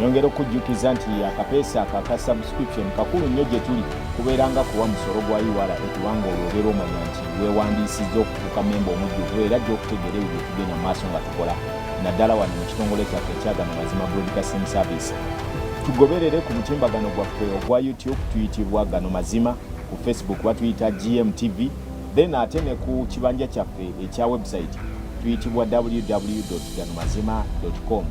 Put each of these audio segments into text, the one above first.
Nyongera okujjukiza nti akapeesa ako aka subscription kakulu nnyo gye tuli kubeera nga kuwa musolo gwa iwala ekubanga olwo obeera omanya nti weewandiisizza okufuuka memba omujjuvu era gyokutegeera ebyo bye tugenda mu maaso nga tukola naddala wano mu kitongole kyaffe ekyaga mu mazima broadcasting service tugoberere ku mutimbagano gwaffe ogwa youtube tuyitibwa gano mazima ku facebook batuyita gmtv then ate ne ku kibanja kyaffe ekya website tuyitibwa www gano mazima com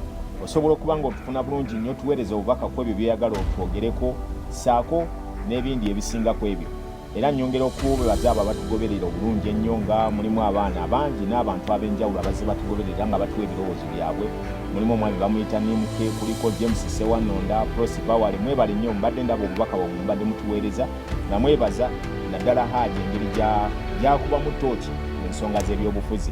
osobola okuba nga otufuna bulungi nnyo tuweereza obubaka ku ebyo byeyagala otwogereko saako n'ebindi ebisinga ku ebyo Era nnyongera okubebaza abo abatugoberera obulungi ennyo nga mulimu abaana abangi n'abantu ab'enjawulo abazze batugoberera nga batuwa ebirowoozo byabwe mulimu omwami bamuyita nimuke kuliko james sewanonda prosi bawale mwebale nnyo mbadde ndaba obubaka bwamwe mubadde mutuweereza nga mwebaza naddala haaji engeri gyakubamu tooki mu nsonga z'ebyobufuzi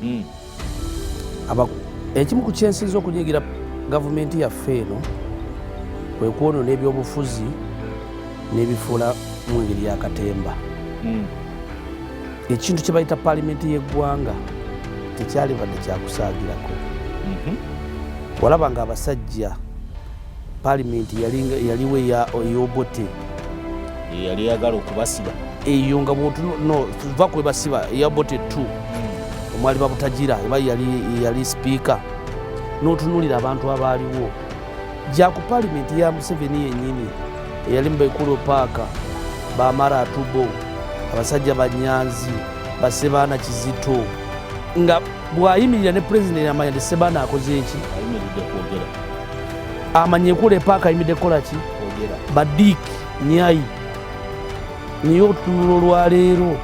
Hmm. ekimu ku kyensinza okunyigira gavumenti yaffe eno kwe kwonona ebyobufuzi n'ebifuula mu ngeri ya katemba hmm. ekintu kye bayita paalimenti y'eggwanga tekyalibadde kyakusaagirako mhm. walaba nga abasajja paalimenti yaliwo ey'obote yali yagala okubasiba eyo nga bwotuva kwebasiba eyabote t hmm. omwali babutagira eba yali sipiika n'otunulira abantu abaaliwo gya ku palimenti ya museveni yennyini eyali mubaikulu paaka bamara atubo abasajja banyanzi basebaana kizito nga bwayimirira ne pulezidenti amanya nti sebaana akoze eki amanya ekula epaaka ayimidde kukola ki badiik nyayi naye otunula olwaleero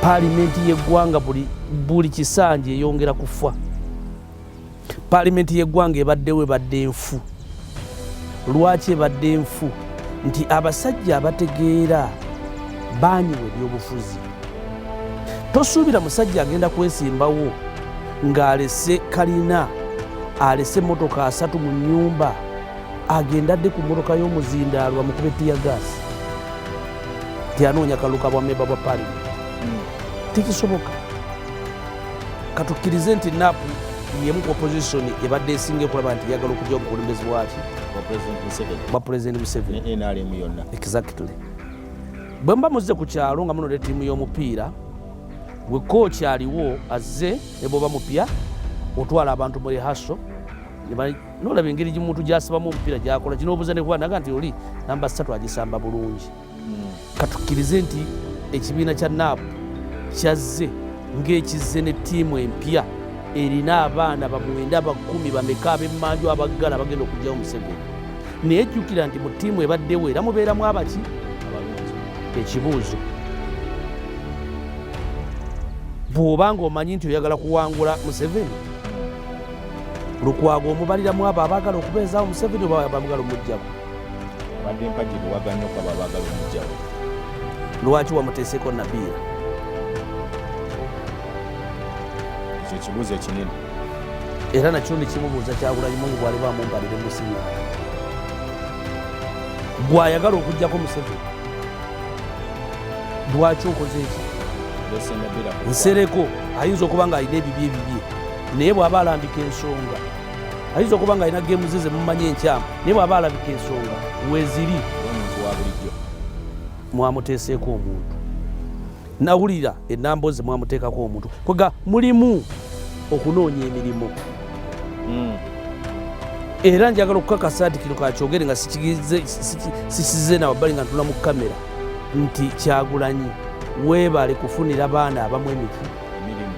palimenti yeggwanga buli kisanja eyongera kufa paalimenti y'eggwanga ebaddewo ebadde nfu lwaki ebadde nfu nti abasajja abategeera baanyiwa ebyobufuzi tosuubira musajja agenda kwesimbawo ng'alese kalina alese motoka asatu mu nyumba agenda adde ku motoka y'omuzindaalwa mukube tiya gaasi nti anoonya kaluka bwa meba bwa paalimenti hmm. tekisoboka katukkirize nti napu yemu ku opposition ebadde esinga okulaba nti yagala okujja obukulembezi bwaki bwa pulezidenti museveni nrm yonna exactly bwe muba muzze ku kyalo nga munode ttiimu y'omupiira gwe kooki aliwo azze ne bwoba mupya otwala abantu mu rehaso nolaba engeri gimuntu gyasibamu omupiira gyakola kinobuuza nekuba naga nti oli namba satu agisamba bulungi katukkirize nti ekibiina kya nap kyazze ng'ekizze ne ttiimu empya erina abaana bamwenda bakumi bameka abemmanju abaggala abagenda okugyawo museveni naye jjukira nti mu ttiimu ebaddewo era mubeeramu abaki ekibuuzo bw'oba ng'omanyi nti oyagala kuwangula museveni lukwago omubaliramu abo abaagala okubeezaawo museveni oba abagala omugjamu abadde mpagi buwaga nnyo kwabo abaagala omujjawo lwaki wamuteeseko nabiira ekyo ekibuuzo ekinene era nakyo nekimubuuza kyagulanyi mungu bwali bamumbalire musinya gwayagala okujjako museveni lwaki okoze ekyo nsereko ayinza okuba nga alina ebibye ebibye naye bw'aba alambika ensonga ayinza okuba nga alina geemu ze zemumanyi enkyamu naye bw'aba alabika ensonga weziri omuntu wa bulijjo mwamuteeseeko omuntu nawulira enambo ze mwamuteekako omuntu kwega mulimu okunoonya emirimu hmm. era njagala okukakasa nti kino kakyogere nga sikize nawabbali nga ntula mu kamera nti kyagulanyi weebale kufunira baana abamu emiti emirimu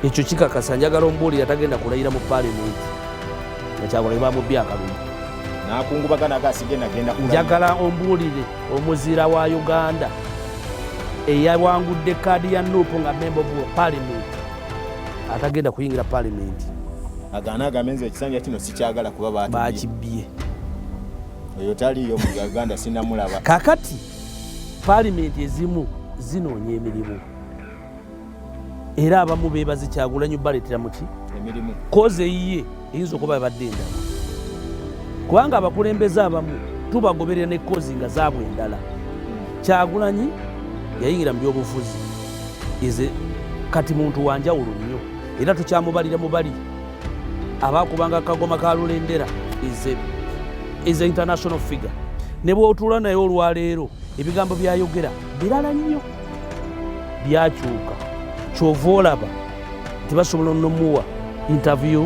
ekyo kikakasa njagala omubuulira tagenda kulayira mu paalimenti nga kyagulanyi bamubbi akalulu njagala ombuulire omuzira wa uganda eyawangudde kaadi ya nupu nga memba of paalimenti atagenda kuyingira paalimenti agana agambe nze ekisanja kino sikyagala kuba bakibbye oyo taliyo mu uganda sinamulaba kakati paalimenti ezimu zinoonya emirimu era abamu bebaze kyagulanyi baleetera muki emirimu kozi eyiye eyinza okuba ebadde endala kubanga abakulembeze abamu tubagoberera ne kozi nga zaabwe endala kyagulanyi yayingira mu byobufuzi eze kati muntu wanjawulo nnyo era tukyamubalira mubali abaakubanga kagoma ka lulendera is a international figure ne bwotuula naye olwaleero ebigambo byayogera birala nnyo byakyuka kyova olaba tebasobola nomuwa interview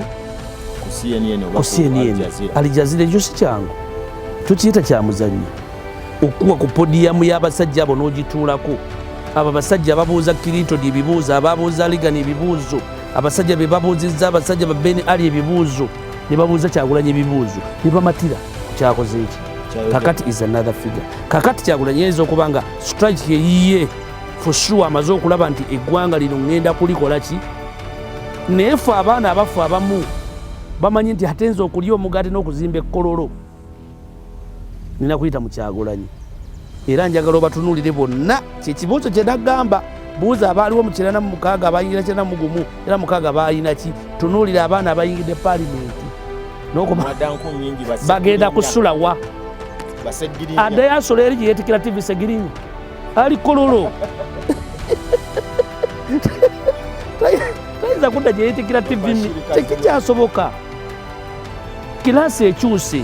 ku cnn alijazira ekyo si kyangu tukiyita kyamuzanyo okukuwa ku podiyamu y'abasajja abo n'ogituulako abo abasajja ababuuza kirintoni ebibuuzo ababuuza ligani ebibuuzo abasajja be babuuzizza abasajja ba beni ali ebibuuzo ne babuuza kyagulanyi ebibuuzo ne bamatira kyakoze eki kakati is another figure kakati kyagulanyi yinza okuba nga strike yeyiye for sure amaze okulaba nti eggwanga lino ŋŋenda kulikola ki naye fe abaana abafu abamu bamanyi nti ate nze okulya omugaati n'okuzimba ekkololo nina kuyita mu kyagulanyi era njagala obatunulire bonna kyekibuuzo kyenagamba buuza abaaliwo mu kirana mu mukaaga abayingira kirana mu gumu era mukaaga balina ki tunuulira abaana abayingidde paalimenti bagenda kusula wa addayo asula eri gyeyetikira tivi segirinya ali kololo tayinza kudda gyeyetikira tivi tekikyasoboka Kilaasi ekyuse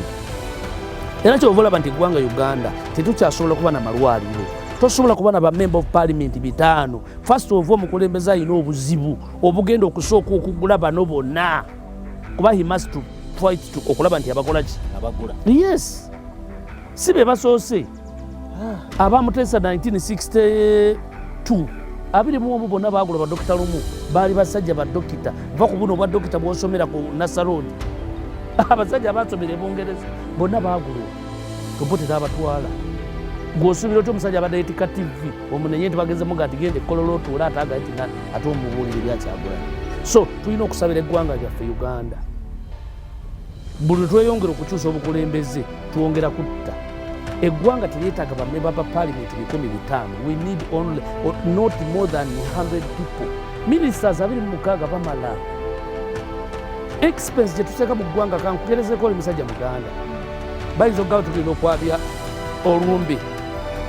era kyova olaba nti eggwanga Uganda tetukyasobola kuba na malwaliro tosobola kuba na bamemba of parliament bitaano first of omukulembeze alina obuzibu obugenda okusooka okugula bano bonna kuba he must fight okulaba nti abakolaki yes si be basoose abamutesa 1962 abiri mu omu bonna baagula badokita lumu baali basajja badokita va ku buno obwa dokita bwosomera ku nasaroodi abasajja abasomera ebungereza bonna baagulwa tobotera abatwala gwosuubira otya omusajja abadde yetika tivi omunenye nti bagenze muga nti gende ekkololo otuule ate agaye tina ate omubuulire byakyagulana so tulina okusabira eggwanga lyaffe uganda buli tweyongera okukyusa obukulembeze twongera kutta eggwanga teryetaaga bamemba ba palimenti bikumi bitaano we need only not more than 100 people ministers abiri mu mukaaga bamala expense gye tuteeka mu ggwanga kankuterezeko oli musajja muganda bayinza okugaba tugenda okwabya olumbe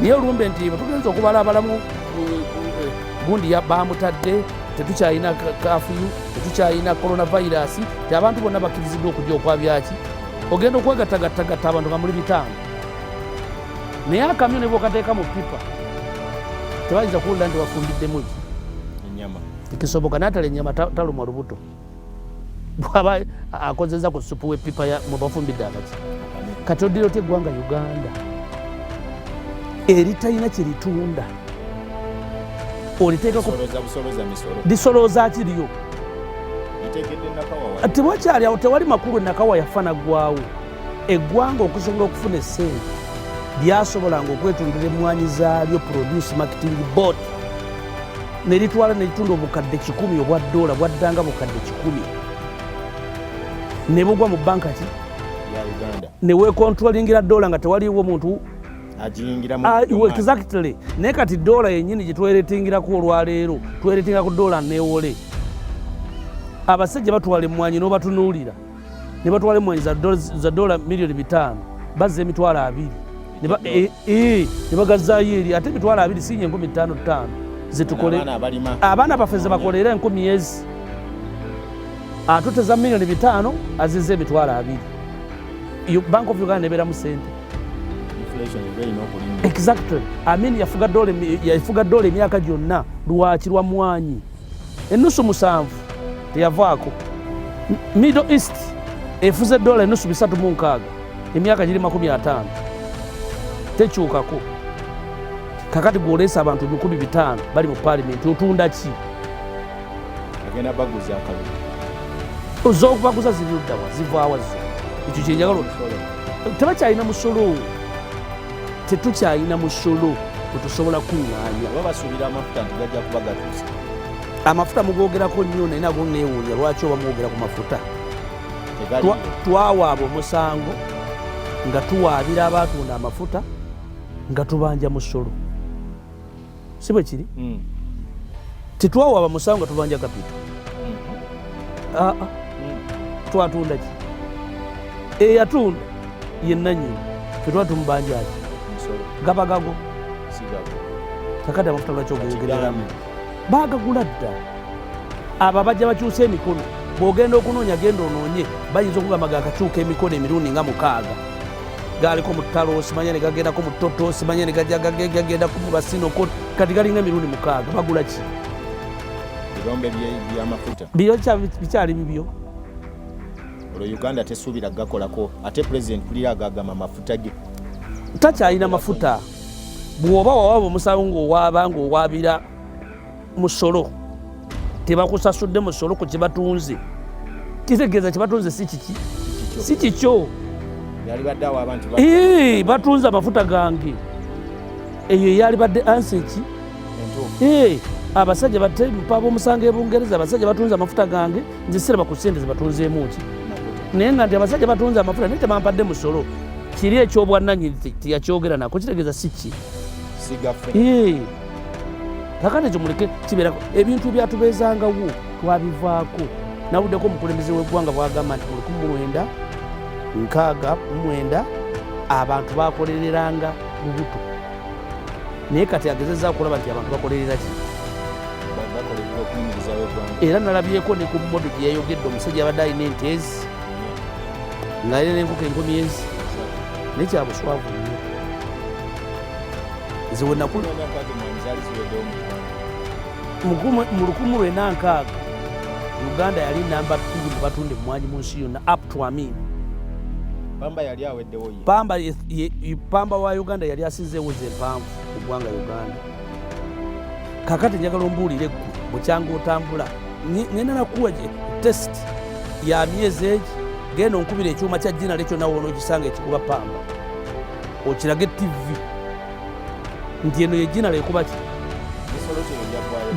naye olumbe nti tugenza okubala abalamu eh, eh, gundi bamutadde tetukyalina kafiyu tetukyalina coronavirus ti abantu bonna bakkiriziddwa okujja okwabyaki ogenda okwegattagattagatta abantu nga muli bitaano naye akamyo ne bwokateeka mu pipa tebayinza kuwulira nti wafumbiddemu ki tekisoboka natala enyama talumwa lubuto bwaba akozeza ku supu wepipa mubafumbidde akati kati odira otya eggwanga uganda eritalina kyeritunda oliteekako lisolooza ki lyo tewakyali awo tewali makulu enakawa yafa naggwawo eggwanga okusobola okufuna essente lyasobolanga okwetundira emmwanyi zaalyo produce marketing board ne litwala ne litunda obukadde kikumi obwa doola bwaddanga bukadde kikumi ne bugwa mu banka ki ne weekontrolingira doola nga tewaliwo muntu exactly naye kati doola yenyini gyetweretingiraku olwaleero tweretingira ku doola newole abasajja batwala emwanyi nobatunuulira ne batwala emwanyi za doola miliyoni bitaano bazza emitwalo abiri ne eh, eh, bagazayo eri ate emitwalo abiri sinya enkumi ttaano ttaano zetukole abaana baffe zebakolera enkumi ezi atuteza miliyoni bitaano aziza emitwalo abiri bank of uganda neberamu sente Exactly. Amin yafuga dola yafuga dola emyaka gyonna lwaki lwa mwanyi enusu musanvu teyavaako Middle East efuze dola enusu bisatu mu nkaaga emyaka giri makumi ataano tekyukako kakati gwoleesa abantu ebikumi bitaano bali mu paalimenti otunda ki agenda baguza akalulu ozokubaguza ziri luddawa zivaawa zo ekyo kyenjagala tebakyalina musolo tetukyalina musolo kwetusobola kuŋŋaanya oba basuubira amafuta nti gajja kuba gatuuse amafuta mugogerako nnyo naye nago neewuunya lwaki oba mwogera ku mafuta twawaaba omusango nga tuwaabira abaatunda amafuta nga tubanja musolo si bwe kiri mm. tetwawa bamusango nga tubanja kapito mm-hmm. aa ah, ah. mm. twatunda ki eyatunda yenanyini fetwa tumubanjaki gaba gago kakati amafuta lwaki ogoyogereramu bagagula dda abo abajja bakyusa emikono bwogenda okunoonya genda onoonye bayinza okugamba gakakyuka emikono emirundi nga mukaaga galiko mu ttalo simanya ne gagendako mu ttoto simanya ne gagenda ku basinoko kati galinga emirundi mukaaga bagula ki birombe byamafuta bikyali bibyo olwo uganda tesuubira gakolako ate pulezidenti kulira agagama amafuta ge takyalina mafuta bw'oba wawaba omusango ng'owaaba ng'owaabira musolo tebakusasudde musolo ku kyebatunze kitegeeza kyebatunze si kiki si kikyo batunze amafuta gange eyo eyalibadde ansi eki abasajja batepa bomusango ebungereza abasajja batunze amafuta gange nzisiraba ku sente zebatunzeemuki naye nga nti abasajja batunze amafuta naye tebampadde musolo kiri ekyobwananyini teyakyogera nako kitegeeza si ki kakana ekyo muleke kibeerako ebintu ebyatubeezangawo twabivaako nawuddeko omukulembeze w'eggwanga bwagamba nti mu lukumi mulwenda nkaaga mumwenda abantu bakolereranga lubuto naye kati agezeza okulaba nti abantu bakolerera ki era nalabyeko ne ku modo gye yayogedde omusajja abadde alina entezi ngaalina nenkoko enkumi ezi naye kyabuswavu nze wenakula mu lukumu lwena nkaaga uganda yali namba bbiri mu batunda emmwanyi mu nsi yonna up to amin pamba yali aweddewo pamba pamba wa uganda yali asinzeewo ze empanvu ku ggwanga uganda kakati njagala ombuulire ggwe bukyanga otambula ngenda nakuwa test ya myezi egi genda onkubira ekyuma kya jina lekyo nawe onokisanga ekikuba pamba okirage tivi nti eno yejinala ekuba ki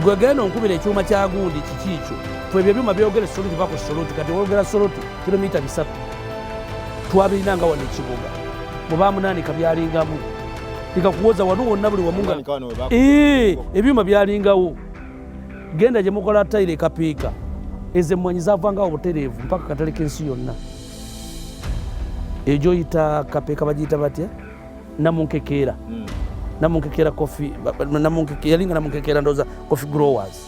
gwe genda onkubira ekyuma kya gundi kiki ekyo twebyo ebyuma byogere soluti va ku soluti kati wogera soluti kilomita bisatu twabirina nga wano ekibuga mubamunaanika byalingamu ikakuwoza wano wonna buli wamunga ebyuma byalingawo genda gye mukola tayiro ekapiika ezo emmwanyi zavangawo butereevu mpaka katale k'ensi yonna ejo yita kapeka bajita batya namunkekeera mm. namunkekeera kofi yalinga namunkekeera ndoza kofi growers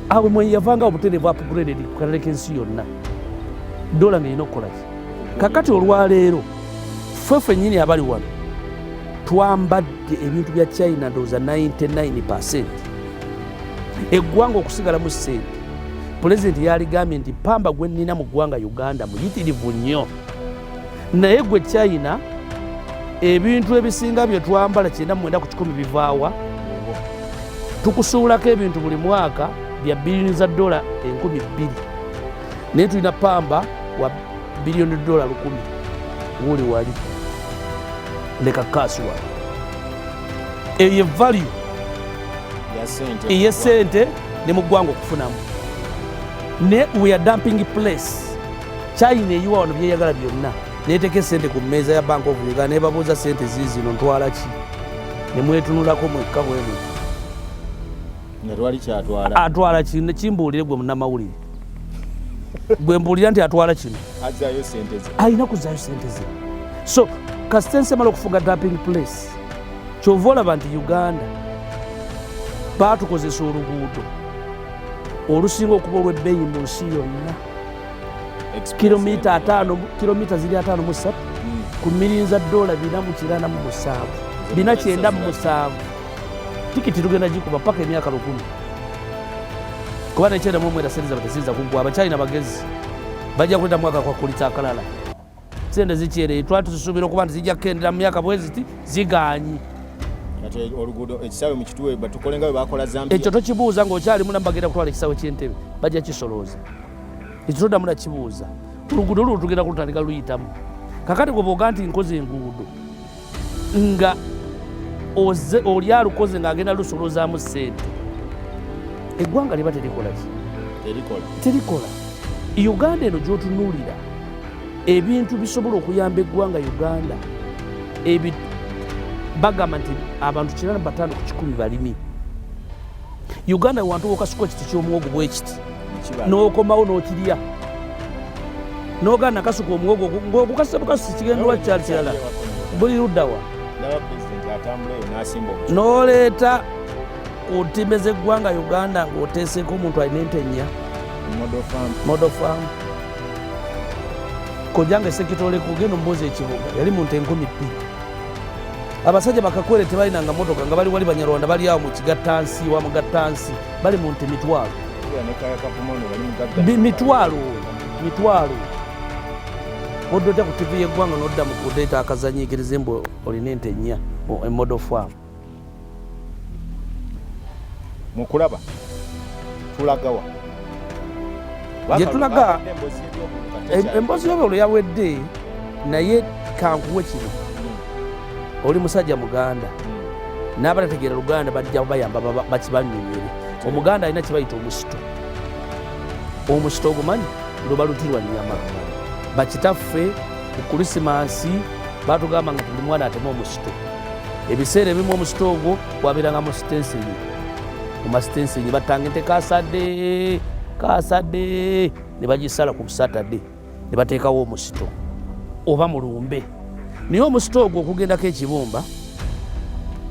awe mwe yavanga obuterevu upgraded ku kalere k'ensi yonna dola nga erina okukolaki kakati olwaleero ffe fennyini abali wano twambadde ebintu bya china ndoza 99 percent eggwanga okusigala mu sente pulezidenti yaligambye nti pamba gwe nnina mu ggwanga uganda muyitirivu nnyo naye gwe china ebintu ebisinga bye twambala kyenda mwenda ku kikumi bivaawa tukusuulako ebintu buli mwaka bya biliyoni za dola enkumi bbiri naye tulina pamba wa biliyoni dola lukumi wuli wali leka kasuwa eyo evalue eyesente ne mu ggwanga okufunamu ne we are dumping place china eyiwa wano byeyagala byonna neteeka esente ku mmeeza ya bank of uganda nebabuuza sente ziizino ntwala ki nemwetunulako mwekka bwemu atwala kino kimbuulire gwe munamawulire gwe mbuulira nti atwala kino alina kuzayo sente ze so kasita ensi emala okufuga dumping place kyova olaba nti uganda baatukozesa oluguudo olusinga okuba olw'ebbeeyi mu nsi yonna kilomita ataano kilomita ziri ataano mu ssatu hmm. ku mirinza doola bina mu kirana mu musanvu bina kyenda mu musanvu tikiti tugenda gikuba paka emyaka lukumi kuba nekyenda mu omwera sente zaba teziyinza kuggwa abakyalina bagezi bajja kuleta mwaka kwakulitsa akalala sente zikyereye twali tuzisuubira okuba nti zijja kukendera mu myaka bweziti ziganyi ekyo tokibuuza ngaokyali munambagenda kutwala ekisawe kyentebe bajja kisolooza ekyo todamu nakibuuza oluguudo lulo tugenda kulutandika luyitamu kakati gwe boga nti nkoze enguudo nga oze oli alukoze ng'agenda lusolozaamu ssente eggwanga liba terikolaki terikola uganda eno gyotunuulira ebintu bisobola okuyamba eggwanga uganda bagamba nti abantu kirana batano ku kikumi balimi uganda wantu wokasuka ekiti kyomuwogo bwekiti nokomawo nokirya nogana kasuka omuwogo ngokukasa bukasi sikigendwa kyali kirala buli luddawa noleeta ku ntimbe zeggwanga uganda ngaoteeseeko omuntu alina ente nnya modofamu kojanga esekitolekugenda omubuuzi ekibuga yali muntu enkumi bbiri abasajja bakakwere tebalinanga motoka nga bali wali banyarwanda bali awo mukigattansi wa mugattansi bali mu nte mitwalo mitwalo mitwalo odda otya ku tivi yeggwanga nodda mu kudeeta akazanyigirize mbu olina ente nnya emodo fam mukulaba tulagawa gye tulaga emboozi y'obululu yawedde naye kankuwe kino hmm. oli musajja muganda hmm. n'abatategeera luganda bajja bayamba bakibanyumire omuganda alina kibayita omusito omusito ogumanyi luba luti lwa nyama bakitaffe ku kulisimansi batugamba nga tuli mwana atema omusito ebiseera ebimu omusito ogwo wabeerangamu sitenseri omasitensingi batanga ente kasadde kasadde ne bagisala ku busatade ne bateekawo omusito oba mu lumbe naye omusito ogwo okugendako ekibumba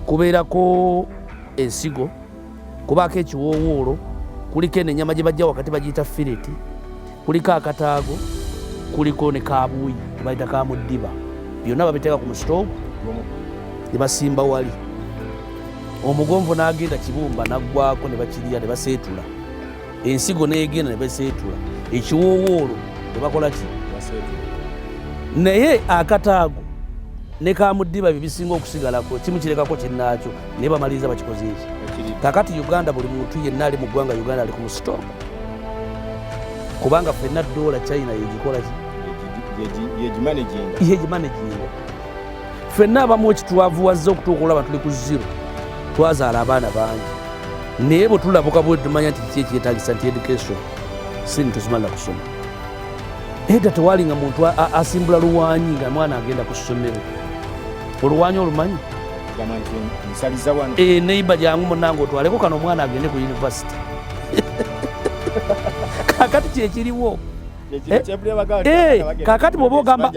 kubeerako ensigo kubaako ekiwoowoolo kuliko eno ennyama gye bajja wakati bagiyita fireti kuliko akataago kuliko ne kabuuyi bayita ka muddiba byonna babiteeka ku musitoovu ne basimba wali omugonvu n'agenda kibumba naggwako ne bakirya ne baseetula ensigo n'egenda ne baseetula ekiwoowoolo ne bakola ki naye akataago ne ka muddiba bye bisinga okusigalako kimu kirekako kinnaakyo naye bamaliriza bakikoze eki kakati uganda buli muntu yenna ali mu ggwanga uganda ali ku musitoovu kubanga fenna doola china yegimanaginga fenna abamu ekitwavuwazza okutuuka olaba tuli ku zero twazaala abaana bangi naye bwe tulabuka bwe tumanya nti kiki ekyetagisa nti education sini tuzimala kusoma eda tewali nga muntu asimbula luwanyi nga mwana agenda ku ssomero oluwanyi olumanyi eneiba eh, jangu munange otwaleko kano omwana agende ku univesity kakati kyekiriwo eh, eh, kakati bwoba ogamba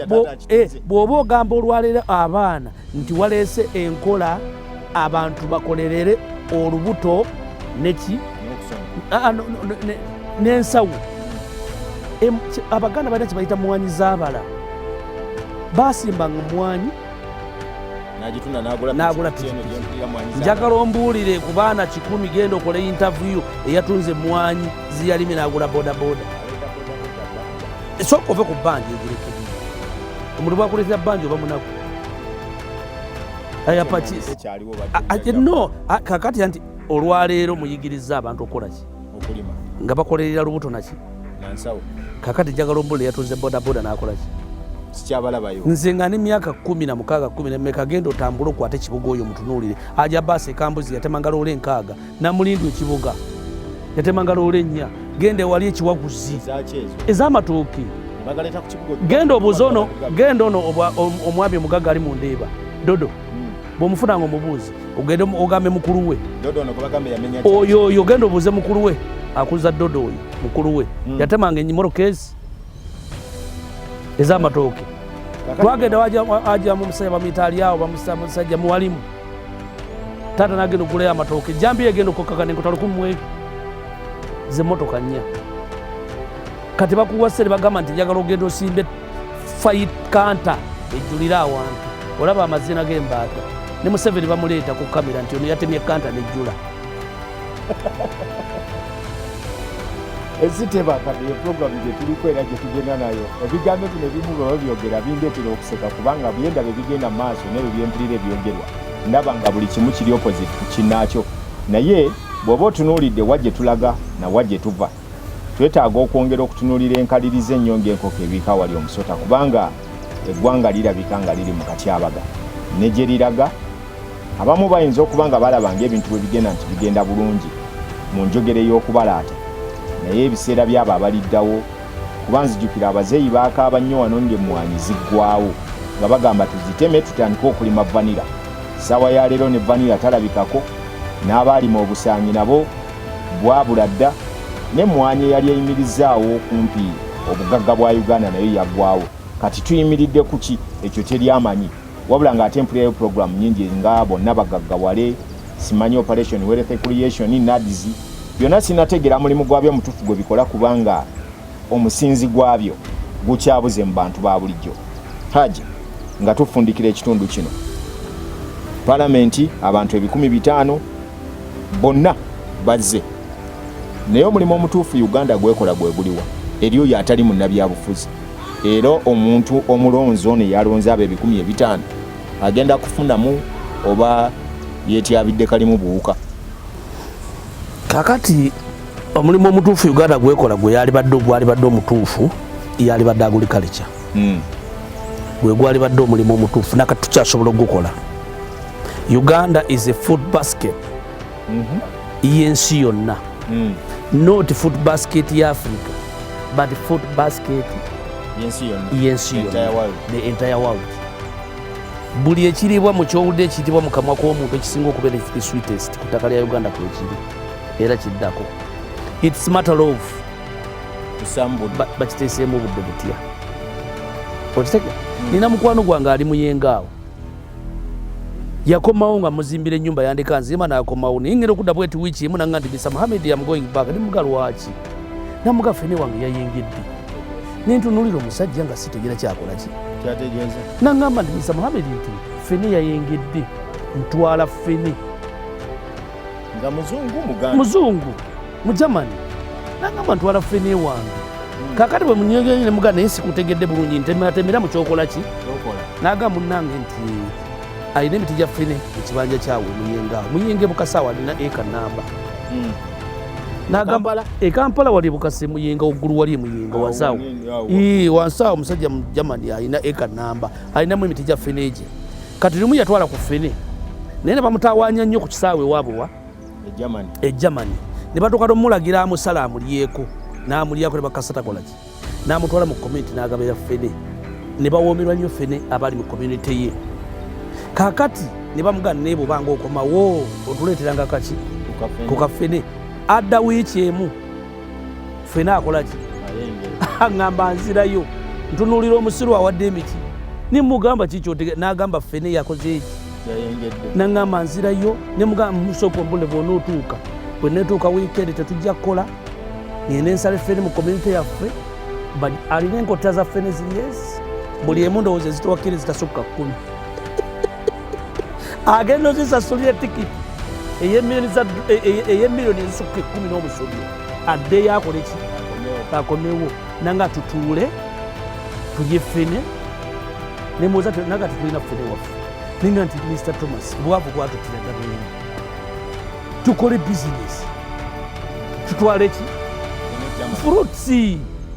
eh, bwoba ogamba olwaleero abaana nti waleese enkola abantu bakolerere olubuto neki ah, ah, n'ensawo abaganda balina kyebayita mwanyi zabala basimbanga omwanyi nagula njagala ombuulire ku baana kikumi genda okola intaviyu eyatunze emwanyi ziyalimi nagula bodaboda esooka ove ku banja egirekedi omuntu bwakuletera banja oba munaku ayapakino kakati anti olwaleero muyigiriza abantu okukolaki nga bakolerera lubuto naki kakati jagala ombula yatunze bodaboda nakolaki nze nga ne myaka kumi na mukaaga kumi nemeka genda otambule okwate ekibuga oyo mutunuulire aja baasi ekambuzi yatemanga loola enkaaga namulindu ekibuga yatemanga loola ennya genda ewali ekiwaguzi ez'amatooke genda obuuza ono genda ono omwami omugagga ali mu ndeeba dodo bwomufuna nga omubuuzi ogende ogambe mukulu we oyo oyo ogenda obuuze mukulu we akuza dodo oyo mukulu we hmm. yatemanga enyimoro kesi ezamatooke twagenda wajamu omusajja bamuyita alyawo bamusajja muwalimu taata nagenda okugulayo amatooke jambi yegenda okukakana enkota lukumi mweri zemotoka nnya kati bakuwase nebagamba nti njagala ogenda osimbe fait kanta ejjulire awantu olaba amazina g'embaata ne museveni bamuleeta ku kamera nti ono yatemye kanta nejjula eziteba kati eprogramu gyetuliko era gyetugenda nayo ebigambo bino ebimu baba byogera bindetera okuseka kubanga byenda bebigenda mu maaso nebyo byempulira ebyogerwa ndaba nga buli kimu kiri opposite ku kinaakyo naye bw'oba otunuulidde wa gye tulaga na wa gye tuva Twetaaga okwongera okutunuulira enkaliriza ennyo ng'enkoko ebiika wali omusota kubanga eggwanga lirabika nga liri mu katyabaga ne gye liraga abamu bayinza okuba nga balaba ng'ebintu bwe bigenda nti bigenda bulungi mu njogera ey'okubalaata naye ebiseera byabo abaliddawo kuba nzijukira abazeeyi baakaaba nnyo wano ng'emmwanyi ziggwawo nga bagamba tuziteme tutandike okulima vanira ssaawa ya leero ne vanira talabikako n'abaalima obusaanyi nabo bwabula dda n'emmwanyi eyali eyimirizaawo okumpi obugagga bwa Uganda nayo yaggwawo kati tuyimiridde ku ki ekyo teri amanyi wabula ng'ate mpulirayo pulogulaamu nyingi nga bonna bagaggawale simanyi operation wealth creation nads byonna sinategeera mulimu gwabyo omutuufu gwe bikola kubanga omusinzi gwabyo gukyabuze mu bantu ba bulijjo haji nga tufundikira ekitundu kino palamenti abantu ebikumi bitaano bonna bazze naye omulimu omutuufu uganda gwekola gweguliwa eri oyo atali munnabyabufuzi era omuntu omulonzi ono eyalonze abo ebikumi ebitaano agenda kufunamu oba yetyabidde kalimu buwuka kakati omulimu omutuufu uganda gwekola gwe yalibadde ogwalibadde omutuufu yalibadde aguli kalica mm. gwe gwalibadde omulimu omutuufu nakati tukyasobola okugukola uganda is a food basket mm -hmm. yensi yonna mm. not food basket ya africa but food basket yensi yonna the entire world buli ekiriibwa mu kyowudde ekiyitibwa mu kamwa k'omuntu ekisinga okubeera the sweetest ku ttaka lya uganda kwekiri era kiddako its matter of bakiteeseemu obudde butya okitege hmm. nina mukwano gwange ali muyenga awo yakomawo nga muzimbira enyumba yandeka nzima nakomawo naye ngenda okudda bweti wiiki emu nanga nti misa muhamed am going back ni muga lwaki namuga fene wange yayengedde nentunulira omusajja nga sitegera kyakolaki nangamba nti misa muhamed nti fene yayengedde ntwala fene nga muzungu muganda muzungu mujamani nangamba ntwala fene wange hmm. kakati bwe munyogeyo ne muganda naye sikutegedde bulungi ntemeratemera mu kyokola ki naga munange nti alina emiti gya fene ekibanja kyawe muyenga muyenga ebukasaawa alina eka namba hmm. nagamba ekampala wali bukasi muyenga ogulu wali muyenga wansaawo wansi awo omusajja mujamani alina eka namba alinamu emiti gya ffene egye kati limu yatwala ku ffene naye ne bamutawaanya nnyo ku kisaawe ewaabwe wa e germany e ne batuuka nomulagira amusala amulyeko n'amulyako ne bakasatakolaki n'amutwala mu community n'agabeera ffene ne bawoomerwa nnyo ffene abali mu community ye kakati ne bamugana naye bwobanga okomawo otuleeteranga kaki ku kaffene adda wiiki emu fena akola ki aŋamba nzirayo ntunuulira omusiru awadde emiti nimugamba kikyotege nagamba fena eyakoze eki naŋamba nzirayo nemugamba musooka ombule bwona otuuka bwenetuuka wiikendi tetujja kukola ngende ensale feni mu community yaffe alina enkotta za feni ziyes buli emu ndowooza ezitowakkiri zitasukka kkumi agenda ozisasulira tikiti eyemiliyoni ezisukka ekumi n'omusobyo addeyo akole ki akomewo nanga tutuule tulye fene nemuwoza naga tetulina fene waffe ninga nti mr thomas obwavu bwatutiraga bwene tukole bizinesi tutwale ki fruits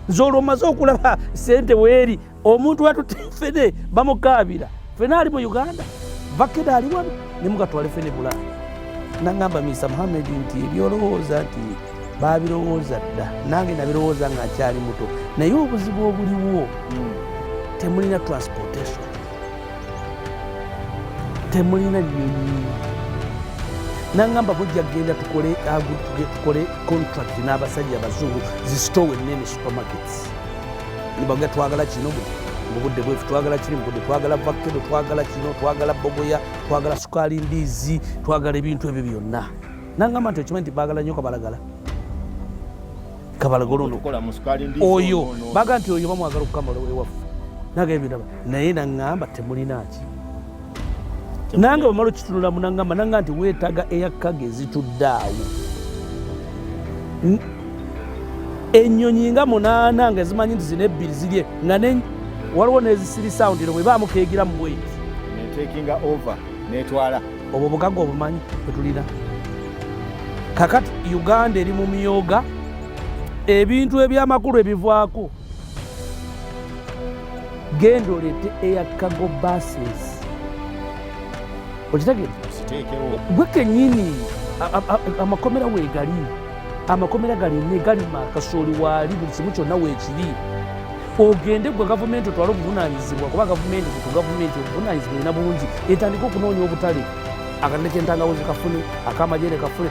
nze olwomaze okulaba sente weeri omuntu watutte fene bamukaabira fene ali mu uganda vakede ali wano ne mugatwale fene bulaaya nangamba misa muhamedi nti ebyolowooza nti babirowooza dda nange nabirowooza nga akyali muto naye obuzibu obuliwo hmm. temulina transportation temulina nyonyi nangamba bujja genda tukole tukole contract n'abasajja abazungu zisitowe nene supermarkets baga twagala kino mu budde bwefu twagala kiri mu budde twagala vakedo twagala kino twagala bogoya twagala sukaali mbizi twagala ebintu ebyo byonna nangamba nti okimanyi nti bagala nnyo kabalagala kabalagala ono oyo baga nti oyo bamwagala okukamala ewaffe nagambye naye nangamba temulinaki nange bamala okitunulamu nangamba nanga nti weetaga eyakkage ezitudde awo ennyonyi nga munaana nga zimanyi nti zina ebbiri zirye nga waliwo nezisirisa awo ndino bwebaamu keegira mu bweti netekinga over netwala obwo bugagga obumanyi bwetulina kakati uganda eri mu myoga ebintu ebyamakulu ebivwako genda oleete air cargo buses okitegere gwe kenyini amakomera wegali amakomera galime galima kasooli waali buli kimu kyonna weekiri ogende gwe gavumenti otwale obuvunanyizibwa kuba gavumenti ku gavumenti obuvunanyizibwa erina bungi etandika okunoonya obutale akanene kyentangawo zikafune akamajere kafune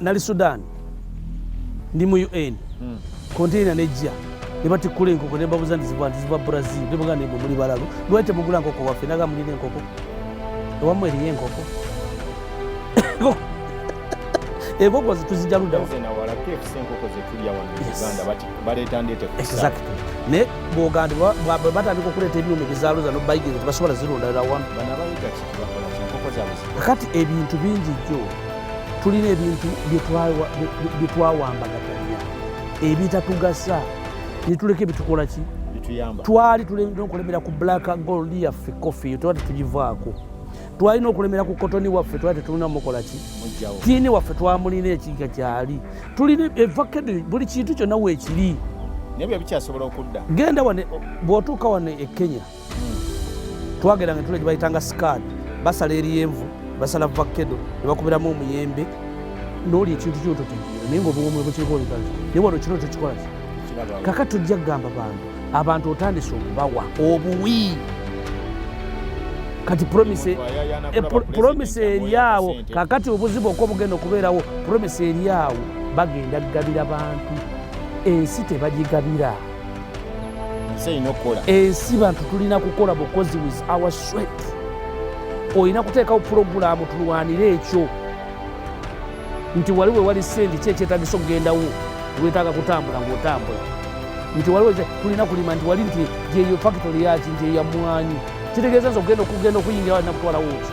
nali sudan ndi mu un hmm. konteina nejja nebatikkula enkoko nembabuza nti ziva nti ziva brazil nebuga nemwe muli balalu lwaki temugula nkoko waffe naga mulina enkoko ewamu eriyo enkoko enkoko zituzija ludawa naye bwogandi batandika okuleeta ebyuma ebizaluza nobayigiza tebasobola zirundalira wamu kati ebintu bingi jjo tulina ebintu bye twawambagatanya ebitatugasa netuleka ebitukola ki twali tulina okulemera ku black gold yaffe coffee twali tugivaako twalina okulemera ku kotoni waffe twali tetulina mukola ki tiini waffe twamulina ekiga kyali tulina evakedi buli kintu kyonna weekiri nebyo bikyasobola okudda genda wane bwotuuka wano e kenya twageranga entula gyebayitanga sikaani basala eryenvu basala vakedo nebakubiramu omuyembe noli ekintu kyoto naye nga obuwomu bwekirikooleka naye wano kino tekikola ki kaka tujja kugamba bantu abantu otandise okubawa obuwi kati promise eh, eryawo kakati obuzibu okwo bugenda okubeerawo promise eryawo bagenda kugabira bantu ensi tebagigabira ensi bantu tulina kukola bukozi with our sweat olina kuteekawo pulogulaamu tulwanire ekyo nti wali we wali sendi ki ekyetagisa okugendawo wetaaga kutambula ngaotambula nti waliwo tulina kulima nti wali nti gyeyo fakitori yaki nti eyamwanyi kitegeeza nti okugenda okugenda okuyingira walina kutwalawo ki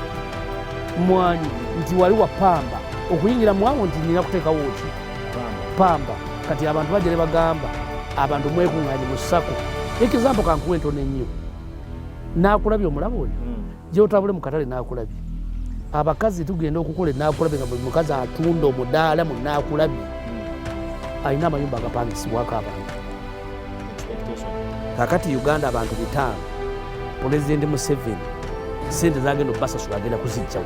mwanyi nti wali wapamba okuyingira mwawo nti nina kuteekawo ki pamba kati abantu bajere bagamba abantu mwekunganye musako ekizambo kankuwa entono ennyo nakulabye omulaba oyo hmm. gyotabule mukatale nakulabye abakazi tugenda okukola enakulabye nga buli mukazi atunda omudaala mu nakulabye hmm. alina amayumba agapangisibwako abantu kakati uganda abantu bitaano pulezidenti museveni sente zagenda obasasula agenda kuzijjawo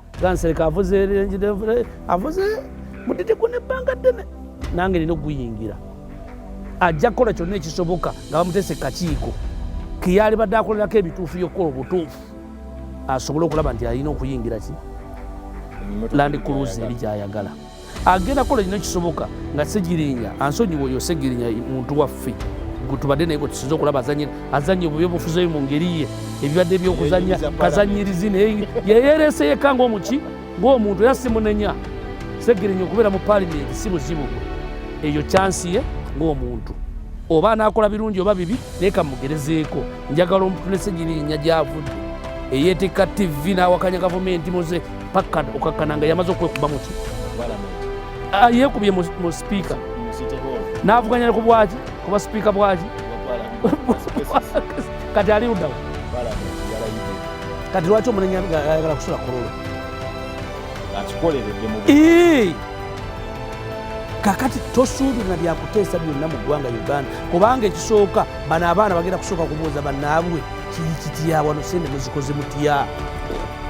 gansereka avuze avuze mudidi gwe nebbanga ddene nange nina okuguyingira ajja kukola kyonna ekisoboka nga bamutese kakiiko keyali badde akolerako ebituufu yokukola obutuufu asobole okulaba nti alina okuyingira ki landi kuluzi eri gyayagala agenda kola kino kisoboka nga segirinya ansonyiwa oyo segirinya muntu waffe tubadde naye gwetusinza okulaba azanye obubi obufuzeyo mu ngeri ye ebibadde byokuzanya kazanyirizi naye yeyereese yekka ngaomuki ngaomuntu era simunenya segirinya okubeera mu palimenti si buzibu eyo kyansi ye ngaomuntu oba anakola birungi oba bibi naye kamugerezeeko njagala omutulese girinya gyavudde eyeetikka ttivi n'awakanya gavumenti muze pakka okakkana nga yamaze okwekuba muki ah, yekubye mu sipiika n'avuganya ku bwaki kuba sipiika bwaki kati ali ludawo kati lwaki omunenya ayagala kusula kulolo kakati tosuubirira byakuteesa byonna mu ggwanga uganda kubanga ekisooka bano abaana bagenda kusooka kubuuza banaabwe kiri kitya wano sente muzikoze mutya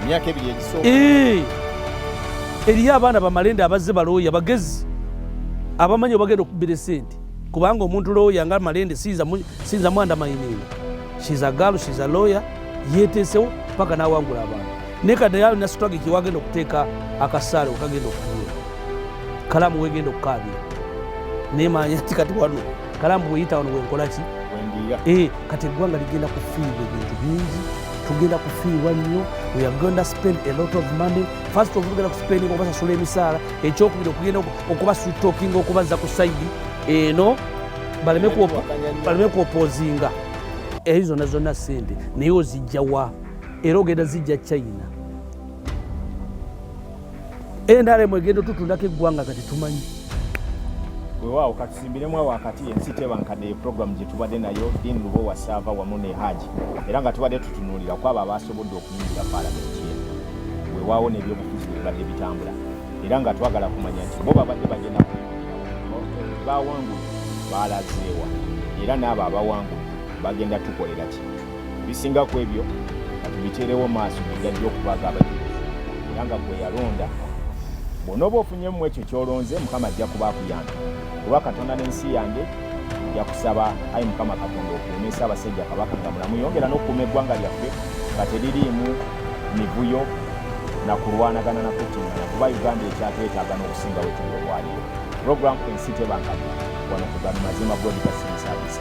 emyaka ebiri egisooka eh! eriyo abaana bamalende abazze balooya bagezi abamanyi obagenda okubbira esente kubanga omuntu looya nga malende siyinza mwanda mayininga shiza galu shiza looya yeteesewo paka nawangula abantu naye kadayaalo nasitwage kiwagenda okuteeka akasaale okagenda okugula kalamu wegenda okukaabira naye manya ti kati wano kalambu weyita wano wenkolaki eh, kati eggwanga ligenda kufiirwa ebintu bingi tugenda kufiirwa nnyo weagenda spend a lot of money first of tugenda kuspending okubasasula emisaala ekyokubiri okugenda okubasutokinga okubazza ku saidi eno baleme kuopozinga eyo zonna zonna sente naye ozijjawa era ogenda zijja china nrm egenda otutundako eggwanga kati tumanyi wewaawo katusimbiremu awo wakati ensi tebankadde program gye tubadde nayo din lubo wasaava wamu ne haji era nga tubadde tutunuulira kwabo abaasobodde okuyingira palamenti eno wewaawo n'ebyobufuzi bibadde bitambula era nga twagala kumanya nti bo babadde bagenda bawangulu baalazeewa era n'abo abawangulu bagenda tukolera ki bisinga ku ebyo katubiteerewo maaso gegajja okubaga abajulizi era nga gwe yalonda bw'onooba ofunyemu ekyo ky'olonze mukama ajja kuba akuyamba kuba katonda n'ensi yange nja kusaba ayi mukama katonda okuumesa abasajja kabaka nga mulamu yongera n'okukuuma eggwanga lyaffe nga teririimu mivuyo na kulwanagana na kuttingana kuba uganda ekyatwetaaga n'okusinga wetuli olwaliyo puroguramu ensi tebankabya wano kugano mazima godigasirisaabisa